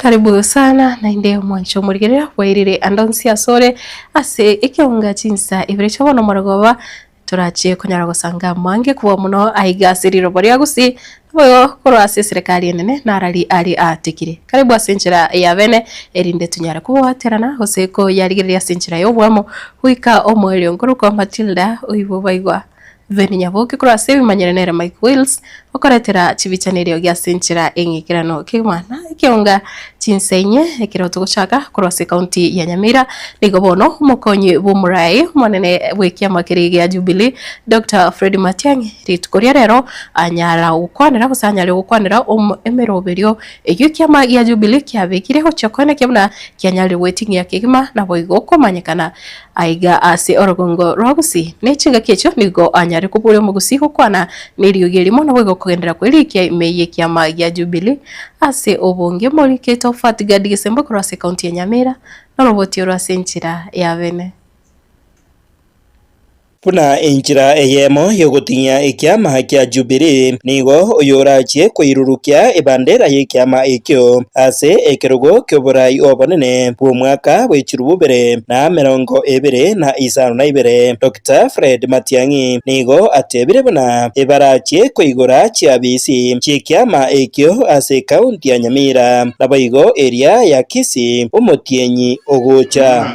Karibu sana naende mwanche omorigereria bwairire ande onsi asore ase ekeunga chinsa ibere chia bono omorogoba, torache konyara gosanga mange kobua mono aiga ase rirobo ria Gusii, boigo korwa ase eserekari enene narari are aatigire. Karibu ase enchera ya bene erinde tonyare kogoaterana gose koyarigereria ase enchera y'oboamo, goika omoerio nkorokwa Matilda oibobaigwa. Veni Nyaboke korwa ase ebimanyere nere Mike Wills okoretera chibichani erio gi ase enchera y'eng'ekerano kegimana ekeonga chinsa inye ekero togochaka korwa ase county ya Nyamira. Nigo bono omokonyi bw'omorai omonene bw'ekiama keria gia Jubilee Doctor Fred Matiang'i rituko ria rero anyara gokwanera gose anyare gokwanera emeroberio eyio ekiama gia Jubilee kiabekire gochia koenekia buna kianyarire gweting'ia kegima naboigo komanyekana Aiga ase orogongo rwa Obusi, ne chingaki echio nigo anyare koburia Omogusi gokwana neriogi erimo naboigo okogenderera kwe rikia ime y'ekiama gia Jubilee. Ase obonge, Mori Kate of Fat Gad Gisembo korwa ase County ya Nyamira, noroboti oro ase enchera ya Beene. Buna enchera eyemo y'ogoting'ia ekiama kia Jubilii, nigo oyorachie koirurukia ebandera y'ekiama ekio ase ekerogo ki'oboraai obonene bw'omwaka bwe chilifu ibere na emerongo ebere na isano na ibere. Dokita Fred Matiang'i nigo atebire buna ebarachie koigora chiafisi chi'ekiama ekio ase ekaunti ya Nyamira, naboigo eria ya Kisii omotienyi ogocha.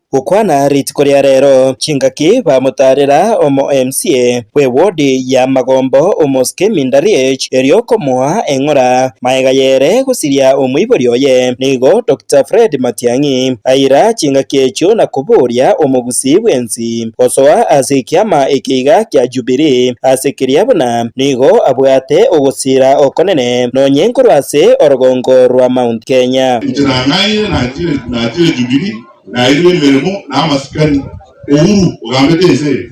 Gokwana rituko ria rero chingaki bamotarera omo MCA bwe ward ya Magombo Omoskemi Ndariech erio okomoa eng'ora maega yere gosiria omoibori oye nigo Doctor Fred Matiang'i aira chingaki echio na koboria omogusii bwensi gosoa ase ekiama eke iga kia Jubilee ase keria buna nigo abwate ogosira okonene nonye nkorwa ase orogongo rwa Mount Kenya. Inche nang'aire nachire Jubilee. nairwe emeremo na amasikani, Uhuru ogambete ense eye,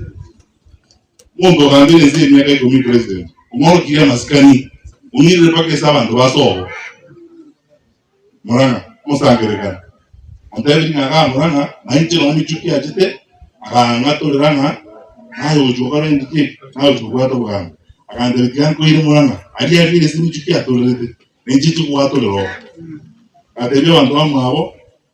monto ogambire ense eye miaka ikomi president, omorokirie amasikani, omirire mpaka ase abanto ba Sobo, Murang'a, omosangererekano, otebirie ng'a gaa Murang'a, nainche nonya emichie kiachete, akang'atorera ng'a naye ogochia gokora engaki eke, naye ogochia kobwata obogambi, agantebia tiga nkoire Murang'a, aria abere ase emichie kiatorerete, nainche nchie kobwatorera oo. Agatebia abanto bamwabo,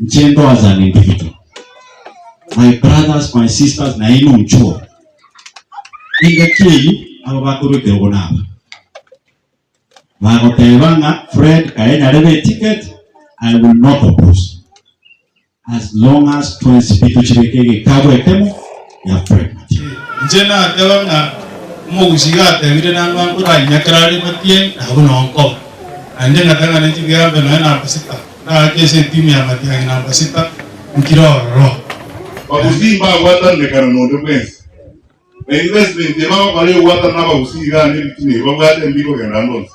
Inche ndoa as an individual, my brothers, my sisters, nainwe muchore engaki eyio aba bakorwa ekerogo naba bagoteba ng'a Fred kaye nyarebe eticket, I will not oppose as long as twensi pi tochibeke egekabu ekemo. Inche nateba ng'a omogusi iga atebire nang'wa nkoranyiakera are ematienyi nabu noo nkoba. Naende ng'atang'ana chigea mbe nonya namba sita, ndagake ase etimu ya matiang'i namba sita nkire ororo. Abagusi mbagwatanire kare nonde bwensi, na investment ye bagokora egwatanana na abagusi iga ande ebitina ebi babwate mbi kogenda ande onsi.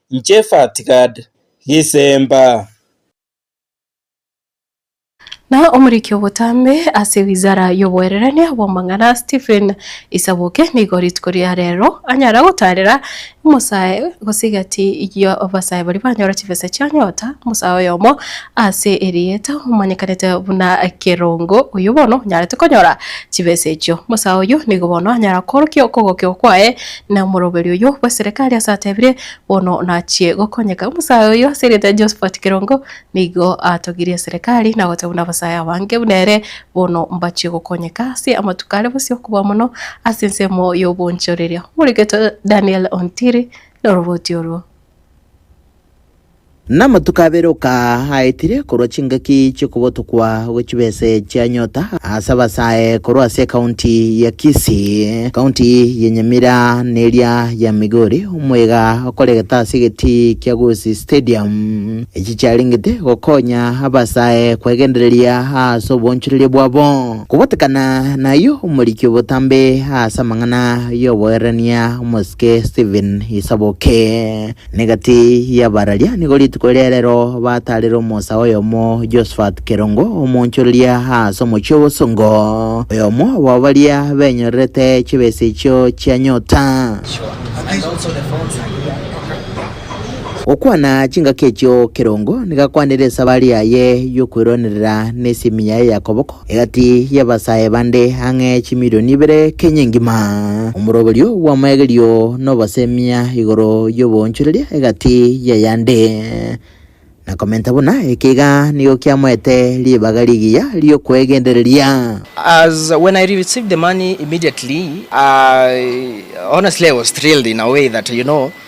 Inche Fatgad gisemba. Na omoriki obotambe ase wizara y'oboengerania bw'amang'ana Stephen Isaboke nigo rituko ria rero anyare gotaarera omosae gose egati y'abasae baria banyora chibesa chia nyota omosae oyomo ase erieta omanyekanete buna Kerongo oyio bono onyarete konyora chibesa echio. Omosae oyio nigo bono anyara koorokia okogokigwa kwaye Na omoroberi oyio bw'eserekari asatebirie, Bono nachie gokonyeka. Omosae oyio ase erieta Josephat Kerongo nigo atogirie eserekari na goteba buna abasae abange buna ere bono mbachie gokonyeka ase amatuko are bosio okoboa mono ase ensemo y'obonchoreria. Omoreketo Daniel Ontiri noroboti orwo. Namatuko abere okaaetire korwa chingaki chi'okobotokwa gwe chibese chia nyota ase abasae korwa ase ekaunti ya Kisii, ekaunti ya Nyamira na eria ya Migori, omoiga okoregete ase egetii kia Gusii Stadium. Echi chiarengete gokonya abasae kwegendereria ase obonchoreria bwabo. Kobatekana nayio, omoriki obotambe ase amang'ana y'obogererania omosike Stephen Isaboke, Negati y'abararia nigo rituko ria rero bataarire omosae oyomo Josphat Kerongo, omoonchoreria aase omochie obosongo, oyomo bw'abo baria benyorerete chibesa echio chia nyota. Gokwana chingaki echio Kerongo nigo akwanire esabari yaye y'okweronerera nesimi yaye ya koboko, Egati y'abasae bande ang'e chimilioni ibere kenya engima. Omoroberio bw'amaegerio nobosemia igoro y'oboonchoreria egati y'ayande. Na komenta buna eke iga nigo kiamoete ribaga rigiya ri'okwegendereria. As when I received the money immediately I honestly I was thrilled in a way that you know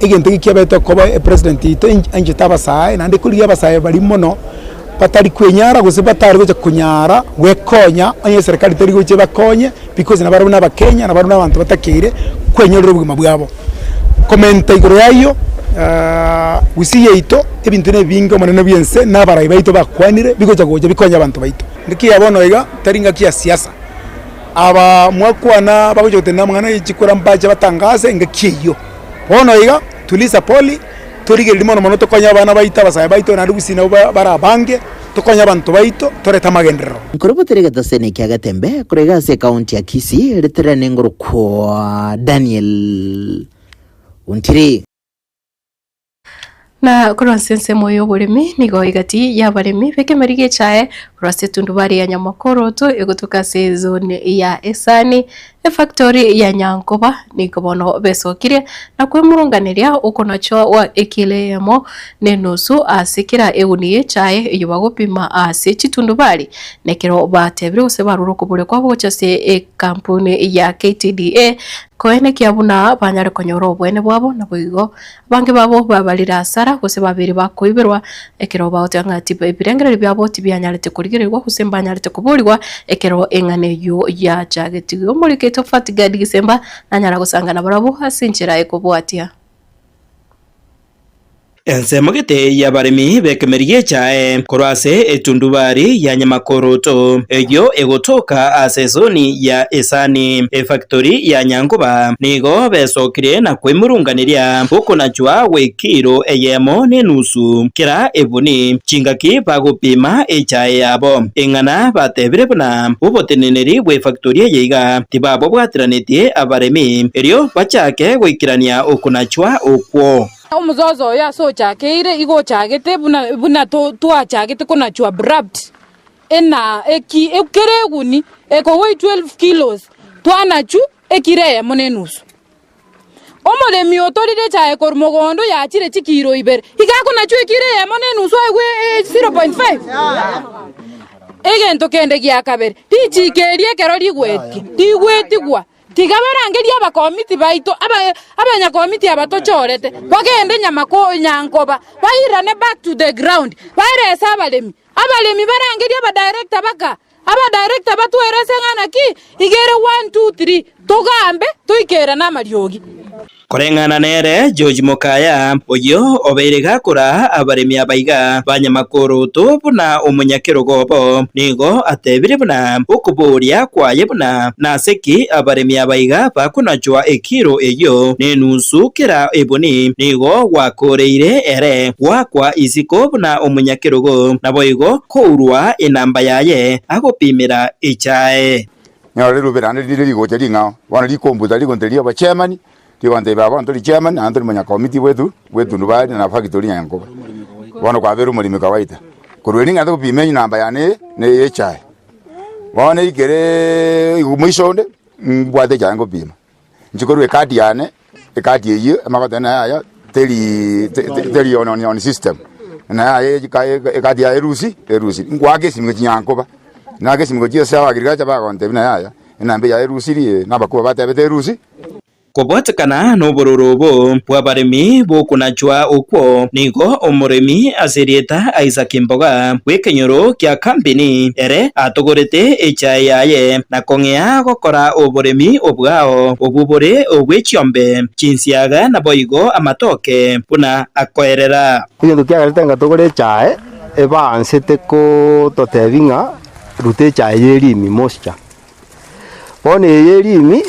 Egento eke kiabetetwe koba epresident yaito anchete abasae, naende ekorigia abasae baria mono batari kwenyara gose batari gocha konyara gwekonya, onye eserekari teri gocha ebakonye because nabo arabwo nabakenya nabo arabwo nabanto batakeire kwenyorera obogima bwabo. Komenta igoro y'ayio, Gusii yaito ebinto nebinge omonene bw'ense na abarai baito bakwanire bigocha gocha bikonye abanto baito. Ngaki ya bono iga tari ngaki ya siasa. abaa mwakwana bagocha gotenena amang'ana e chikura mbache batangase engaki eyio. Bono iga, tuliza poli, torigereria mono mono tokonye abana baito, abasae baito, naende gusii nabo ba bare abange, tokonye abanto baito, torete amagenderero. Nkorobotera egetosene kia Gatembe korege ase ekaunti ya Kisii riterane ngorokwa Daniel Ontiri. Na korwa ase ensemo y'oboremi nigo egati y'abaremi b'ekemeeri gechae korwa ase etundubari ya Nyamakoroto egotuka ase ezone ya Esani, efactori ya Nyankoba, nigo bono besokire na kwemurunganeria okonachoa gwa ekilo eyemo na enusu ase kera egunia echae eyio bagopima ase chitundubari. Na ekero batebire gose barure okoboria kwabo gochia ase ekampuni ya KTDA, koenekia buna banyare konyora oboene bwabo, naboigo Abange babo babarire asara, gose babere bakoiberwa, ekero bagoteba ng'a ebirengererio biabo tibianyarete korigererigwa, gose mbanyarete koboorigwa, ekero eng'ana eyio yachagetigwe. Omoriki oito Fatgad Gisemba nanyara gosanga nabarabwo ase enchera ekobwatia. Ensemo gete y'abaremi b'ekemerigi echae korwa ase etundubari ya Nyamakooroto, eyio egotoka ase esoni ya Esani, efactori ya Nyankoba. Nigo besokire na koimurunganeria okonachwa gwe kilo eyemo ne enusu kera ebuni, chingaki bagopima echae yabo, eng'ana batebire buna oboteneneri bw'efaktori eye iga tibabobwateranetie abaremi, erio bachake goikerania okonachwa okwo. Omozozo oyo ase ochakeire igo ochagete buna twachagete konachwa brabt ena, eki kera eguni ekogoe 12 kilos twanachw ekiro eyemo ne enusu. Omoremi otorire echae korwa mogondo yachire chikiiro ibere, iga akonachwa ekiiro eyemo ne enusu aigwe 0.5. Egento kende gia kabere, richiiko erio ekero rigwetie, rigwetigwa, tiga barangerie abakomiti baito, abanyakomiti aba tochorete, bagende nyama nyankoba, bairane back to the ground, baerese abaremi, abaremi barangerie abadirector baka Aba director batwere ase eng'ana ki igere one, two, three togambe toike ere namariogi. Koreng'ana nere George Mokaya, oyio obeire gakora abaremi aba iga ba Nyamakurutu buna omonyakerogo obo, nigo atebire buna okoboria kwaye buna nase ki abaremi aba iga bakonachwa ekiro eyio nenusu kera ebuni nigo gwakooreire ere gwakwa isiko buna omonyakerogo naboigo Korwa enamba yaye agopimera echae. Nero rirube naende riria rigocha ring'ao, bono rikombuta rigonte ria obochemani, rigonte ime bono tori chairman naende tori monyakomiti bwetu bw'etundubari na factory ya Nyakoba. Bono kwabeire omoremi kawaida. Korwa eri ng'ente gopima enamba yane eye na eye echae. Bono ekere moiso onde, mbwate echae ngopima. Nchikorwa ecard yane, ecard eyio amagote naye aya teri te- teri on, on, on system naye aye echika- e- ecard yaye erusi erusi nkwake esimike chinyara nkoba nake esimiko chia ase abagirikacha bagontebia naye aya enamba eyaye erusiri ee nabakubwa batebete erusi. Kobwatekana nobororo obo bw'abaremi b'okonachwa okwo nigo omoremi ase erieta Isaac Mboga bw'ekenyoro kia Kambini ere atogorete echae yaye na kong'ea gokora oboremi obwao obwo bore obwe chiombe, chinsiaga naboigo amatoke buna akoerera. Egento kiagerete ng'a togore echae, ebaansete gototebi ng'a ruta echae y'erimi mosicha. Bono eye y'erimi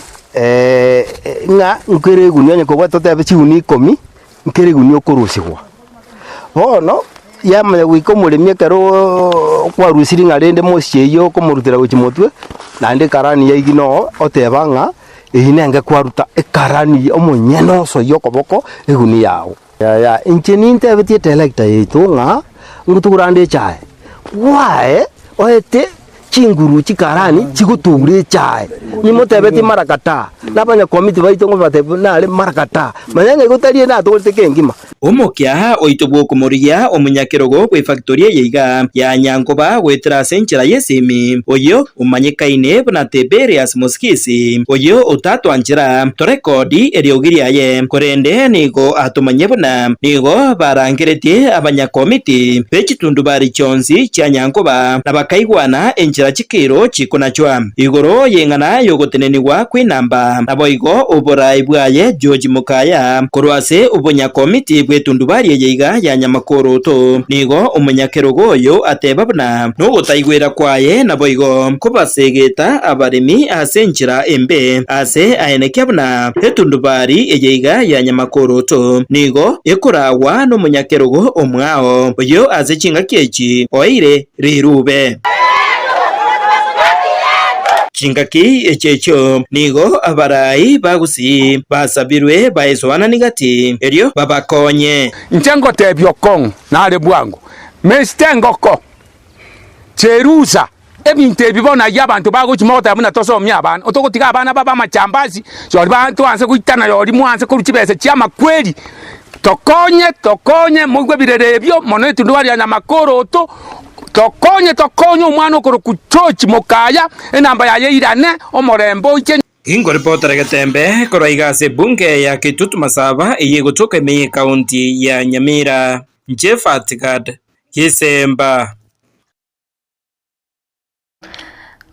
ng'a nkere egunia onye kobwate totebi chigunia ikomi. nkerigunia okorusigwa. Bono yamanya goika omoremi ekero kwarusirie ng'a rende mosiche eyio okomorutera gochia motwe, naende ekarani yaigi no oteba ng'a eyio nenge kwaruta ekarani omonyene oso y'okoboko egunia yao. Yaya inche nintebetie etelekta yaito ng'a, ngotugura nde echae, bwae oete. chinguru chi'Karaani chigotuura echae, nimotebetie Imarakata, na abanyakomiti baito ngobateebie nare Imarakata, manya ng'a igo tari ende atogorete ekengima. Omokia oito bw'okomorigia omonyakerogo bw'efactory eye iga ya Nyankoba goetera ase enchera y'esimi, oyio omanyekaine buna Tiberius Mosigisi, oyio otatwanchera torekodi eriogi riaye, korende nigo atomanyia buna nigo barangeretie abanyakomiti b'echitundubaari chionsi chia Nyankoba. na bakaigwana enchera chikiro chikonachwa igoro y'eng'ana y'ogotenenigwa kw'enamba. Naboigo oboraai bwaye George Mokaya korwa ase obonyakomiti bw'etundubaari eye iga ya Nyamakuoroto nigo omonyakerogo oyo ateba buna nogotaigwera kwaye naboigo kobasegeta abaremi ase enchera embe ase aenekia buna etundubaari eye iga ya Nyamakuoroto nigo ekoragwa nomonyakerogo omwao oyo ase chingaki echi ki oeire rirube? Chingaki echi echio nigo abarai ba gusii basabirwe baesoanani gati, erio babakonye. Inche ngoteebia okong'u nare bwango, Mesita engoko chi'erusa. Ebinto ebi bono ayio abanto bagochi mogoteba buna tosomia abana, otogotiga abana babe amachambasi, chori ba twanse goitana yori mwanse korwa chibesa chia amakweri, tokonye tokonye moigwe birere ebio mono etunduba ria nyamakoroto, tokonye tokonye omwana okorokwa George Mokaya, enamba yaye eirane, omorembe oiche. Inkoripotera getembe korwa iga ase ebunge ya Kitutu Masaba eye egochoka ime ye county ya Nyamira. Jephart Gad. Gisemba.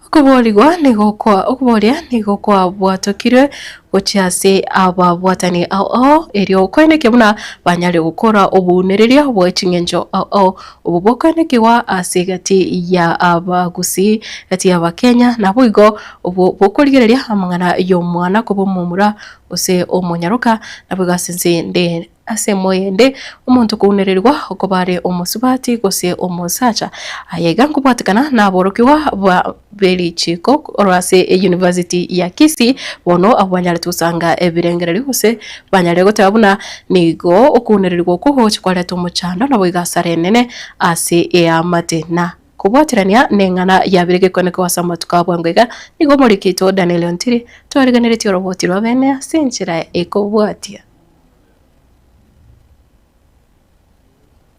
Okoboorigwa nigo kwa okobooria nigo kwabwatokire gochia ase ababwatani ao ao, erio okoenekia buna banyare gokora obounereria bwe ching'encho ao ao. Obwo bokoenekigwa ase egati ya Abagusii, egati y'Abakenya, naboigo obwo bokorigereria amang'ana y'omwana koba omomura gose omonyaroka, naboigo ase ense ende. Ase moyende, omonto kounererigwa okoba are omosubati gose omosacha, aye iga nkobwatekana naborokigwa ba berichiko korwa ase eyunivasiti ya Kisii, bono abwo banyarete gosanga ebirengererio gose banyare goteba buna nigo okounererigwa okwo gogocha kwareta omochando naboigo asara enene ase eamate. Na kobwaterania neng'ana ya bire gekonekewa ase amatuko a bwango iga nigo omorikito Daniel Ontiri twariganeretie oroboti rw'abene ase enchera ekobwatia.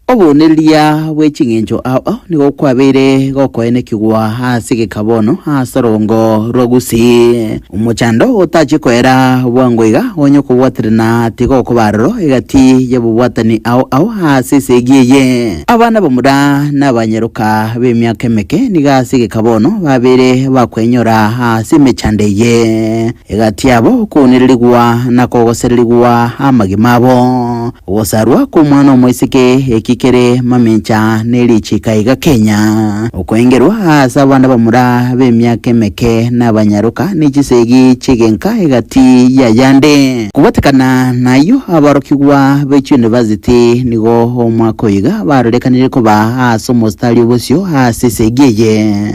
Obonereria bwe ching'encho ao nigo kwabeire gokoenekigwa ase egeka bono ase orongo rwa Gusii. Omochando otachie koera bwango iga onye okobwaterana tiga okoba aroro egati y'ababwatani ao ao ase esegi eye. Abana bamura na abanyaroka b'emiaka emeke nigo ase egeka bono babeire bakoenyora ase emechando eye. Egati yabo kounererigwa na kogosererigwa amagima abo. Ogosarwa kw'omwana omoiseke eki kere mamencha ne richiika iga Kenya. Okoengerwa aase abana bamura b'emiaka emeke nabanyaroka ne chisegi chi'egenka egati y'ayande. Kobatekana nayio aborokigwa be chiunivasiti nigo omwaka oiga barorekanire koba aase omositari obosio aase esegi eye.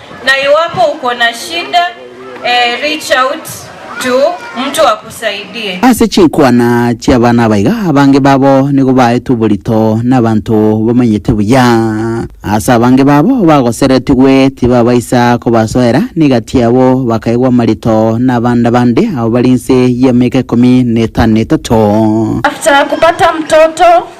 Na iwapo uko na shida eh, reach out to mtu akusaidie. Ase chinkwana chi'abana abaiga, abange babo nigo baetwe oborito nabanto bamanyete buya. Ase abange babo bagoseretigwe tibabaisa kobasoera, na egati yabo bakaegwa amarito nabande abande abo bari inse y'emeka ikomi na etano na etato. After kupata mtoto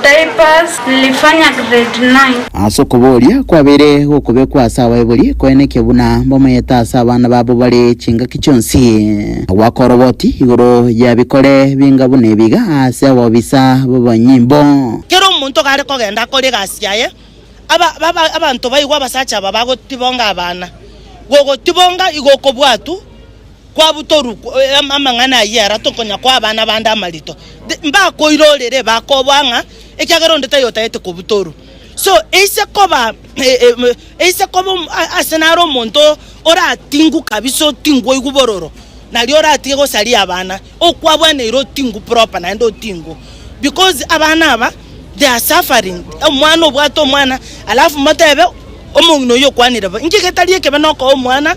Diapers lilifanya grade nine. Ase okobooria kwabeire gokobekwa ase abaibori koenekio buna mbamaete ase abana babo bare chingaki chionsi, na goaka oroboti igoro ya bikore binga buna ebiga ase abobisa b'abanyimbo. Kera omonto gare kogenda akore egasi yaye, aba, aba, abanto baigwe abasacha aba bagotibonga abana. Gogotibonga igo okobwatwa. kwabutorwa amang'ana ayio ara tokonya koa abana bande amarito, mbakoira orere bakoboa ng'a ekiagera onde taiyo otagete kobutorwa. So eise koba eise koba ase naro omonto oratingu kabisa otingu oigwe bororo nario oratige gosaria abana okwabwaneire otingu proper naende otingu because abana aba they are suffering omwana obwate omwana alafu motebe omong'ina oyio okwanire bo inki getari ekebe nokoa omwana.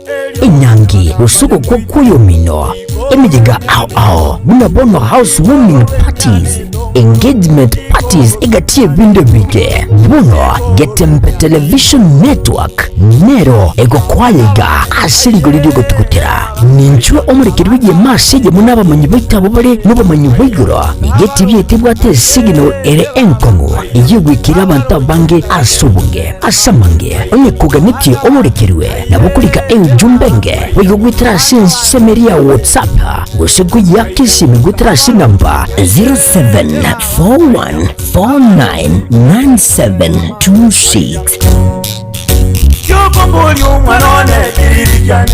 enyangi, gosogokwa kw'oyomino, emeyenga ao ao, buna bono house warming parties, engagement parties egati y'ebinto ebige. Bono Getembe Television Network nero egokwaya iga ase rigori ri'ogotugutera. Ninchwe omorekeri bw'egeoma ase eyemo n'abamanyi baito abwo bare nobomanyi bwa igoro, nigo etibi yaito ebwate esignal ere enkong'u ey'ogwekerera abanto abange ase obonge. Ase amange, onye koganetie oborekerwe, Nabo korika enchumba enge, boigo goetera ase ensemeri ya WhatsApp, gose koyeaka esimi goetera ase enamba 0741499726. Kiokombori omwana one kiririkiane.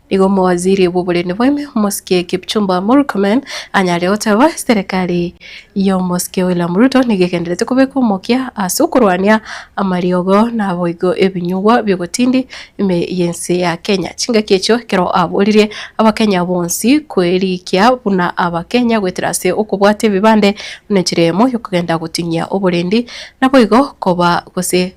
Nigo omowaziri bw'oborindi bw'ime omosike Kipchumba Murkomen anyare goteba, Serikali y'omosike William Ruto nigo egenderete kobeka omokia ase okorwania amariogo naboigo ebinyugwa bi'ogotindi ime y'ense ya Kenya. Chingaki echio ekero aboririe abakenya bonsi kwerikia buna abakenya goetera ase okobwata ebibande buna enchera eyemo y'okogenda gotinyia oborindi naboigo koba gose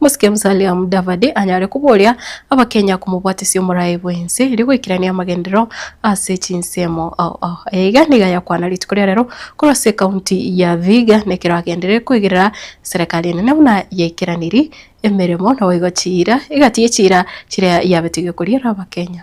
Mosike Musalia Mudavadi anyare koboria abakenya komobwatesia omoraai bw'ense erio goikerania amagenderero ase chinsemo Aya iga nigo ayakwana rituko ria rero korwa ase ekaunti ya Vihiga nekero agenderere koigerera serekari enene buna yaikeranirie emeremo naboigo chiira egati yechiira chiria yabete giokoria abakenya.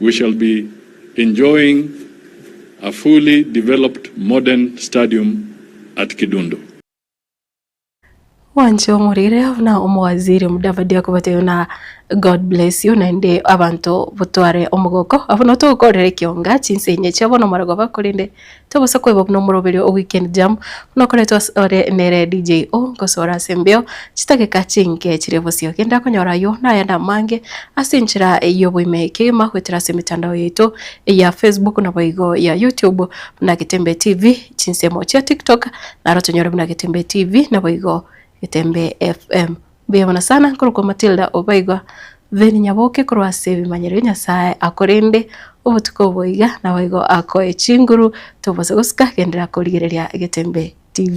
We shall be enjoying a fully developed modern stadium at Kidundu. Gwancha omorire buna omowaziri Mudavadi akobatebia buna God bless you naende abanto botware omogoko abwo nabo togokorera ekiunga chinsa inye chiabo nomorogoba korende Tobosa koeba buna omoroberio o weekend jam buna okoretwe ase ore nere DJ O ngosoora ase embeo chitageka chinke chiria bosio gende akonyora ayio na ayande amange ase enchera y'oboime kegima goetera ase emetandao yaito eya Facebook naboigo ya YouTube buna Getembe TV chinsemo chia TikTok naro tonyore buna Getembe TV naboigo Getembe FM. Mbuya mono sana nkorokwa Matilda obaigo then nyaboke korwa ase ebimanyerio Nyasaye a korende obotuko obo iga naboigo akoe chinguru tobose gosika gendera korigereria Egetembe TV.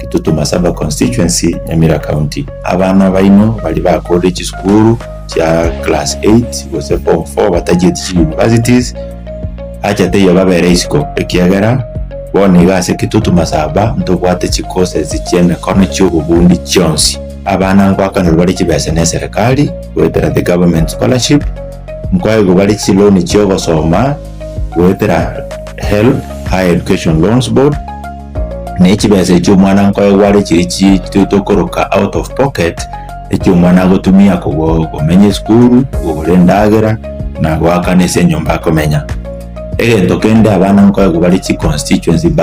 Kitutu-ma Saba Constituency, Nyamira County, abana baino baria bakorire chisukuru chia class 8 gose form 4 batachieti chi universities acha teiyo babere isiko ekiagera bono iga ase Kitutu-ma Saba ntobwate chi courses chi'emekono chi'obobundi chionsi. Abana nkoakanirwe bare chibesa ne serikali goetera the government scholarship, nkoegwa bare chiloan chi'ogosoma goetera HELB, Higher Education Loans Board, Na echibesa echio omwana nkoegware chiri chitueto koroka out of pocket, echio omwana agotumia kogo- komenya esukuru, kogora endagera, na goakana ase enyomba akomenya. Egento kende abana nkoegwa bare chiconstituency bursary.